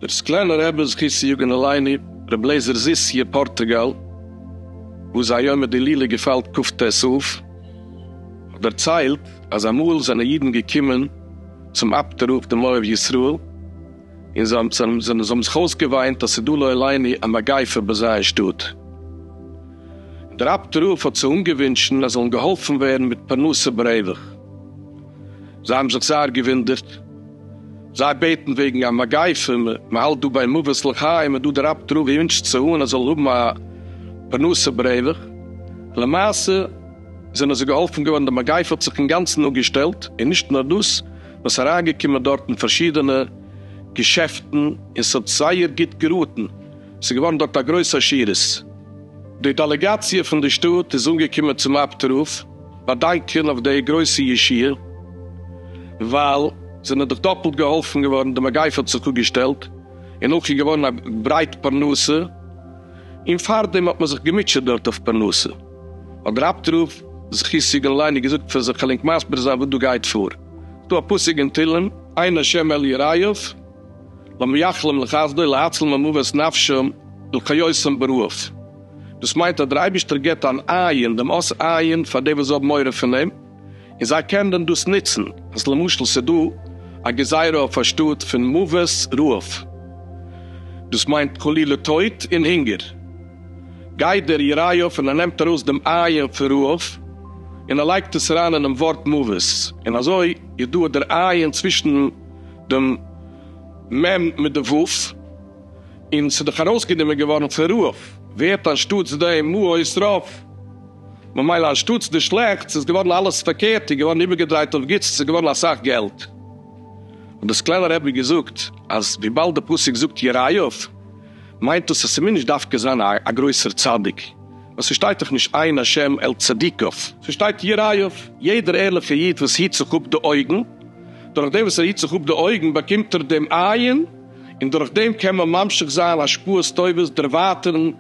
דער סקלענער רבי זכות צו יגון עלינו, רבי לעזער זיס י פארטוגאל, וואס זיין יומא דלילה געפאלט כ ט אב, האט דערציילט אז אמאל זענען אידן געקומען צום אפטער רב דעם אוהב ישראל, און זיי האבן זיך אויסגעוויינט אז ס'איז דא לא עלינו א מגיפה ביי זיי אין שטאט. דער אבד ר האט זיי אנגעווינטשן אז זיי זאלן געהאלפן ווערן מיט פרנסה ברווח. זיי האבן זיך זייער געווינדערט. זיי בעטן וועגן א מגיפה, מ'האלט דא ביי מוות לחיים, און דא דער אבד ר ווינטשט זיי אן אז זיי זאלן האבן א פרנסה ברווח. למעשה זענען זיי געהאלפן געווארן, די מגיפה האט זיך אינגאנצן אפגעשטעלט, און נישט נאר דאס, וואס אריינגעקומען דארט אין פארשידענע געשעפטן און ס'האט זייער גוט געראטן, ס'איז געווארן דארט א גרויס עשירות. די דעלעגאציע פון די שטאט איז אנגעקומען צום אב ת רב באדאנקען אויף די גרויסע ישועה, ווייל זענען דאך דאפלט געהאלפן געווארן, די מגיפה האט זיך אפגעשטעלט און אויך איז געווארן א ברייט פרנסה, און פארדעם האט מען זיך געמוטשעט דארט אויף פרנסה. האט דער אבד רב זכי' סעגענליין די געזאגט פאר זיך כ'על ענק מסביר זיין וואס דא גייט פאר, ס'דא א פסוק אין תהלים עיין השם אל יראיו למייחלים לחסדו להצל ממוות נפשם ולחיותם ברעאף, דאס מיינט אז דער אייבישטער געט אן עיין דעם אות עיין פאר די וואס האבן מורא פון אים, און זיי קענען דען דאס נוצן אז למשל ס'איז דא א גזירה אויף א שטאט פון מוות רעב, דאס מיינט חלילה טויט און הונגער, גייט דער יריות און ער נעמט ארויס דעם עיין פון רעב און ער לייגט עס אריין אינעם ווארט מוות, און אזוי איז דא דער עיין צווישן דעם מ' מיט די ו', און ס'איז דאך ארויסגענומען געווארן פון רעב, ווערט אנשטאטס דעם מוות רעב. ממילא אנשטאטס די שלעכטס איז געווארן אלעס פארקערט און געווארן איבערגעדרייט אויף גוטס, עס איז געווארן אסאך געלט. האט די סקלענער רבי געזאגט אז וויבאלד די פסוק זאגט יראיו מיינט דאס אז ס'מוז נישט דווקא זיין א גרויסער צדיק, ווייל ס'שטייט דאך נישט עיין השם אל צדיקיו, ס'שטייט יראיו, יעדער ערליכע איד וואס היט זיך אפ די אויגן, דורך דעם וואס ער היט זיך אפ די אויגן באקומט ער דעם עיין, און דורך דעם קען מען ממשיך זיין השפעות טובות דערווייטערן,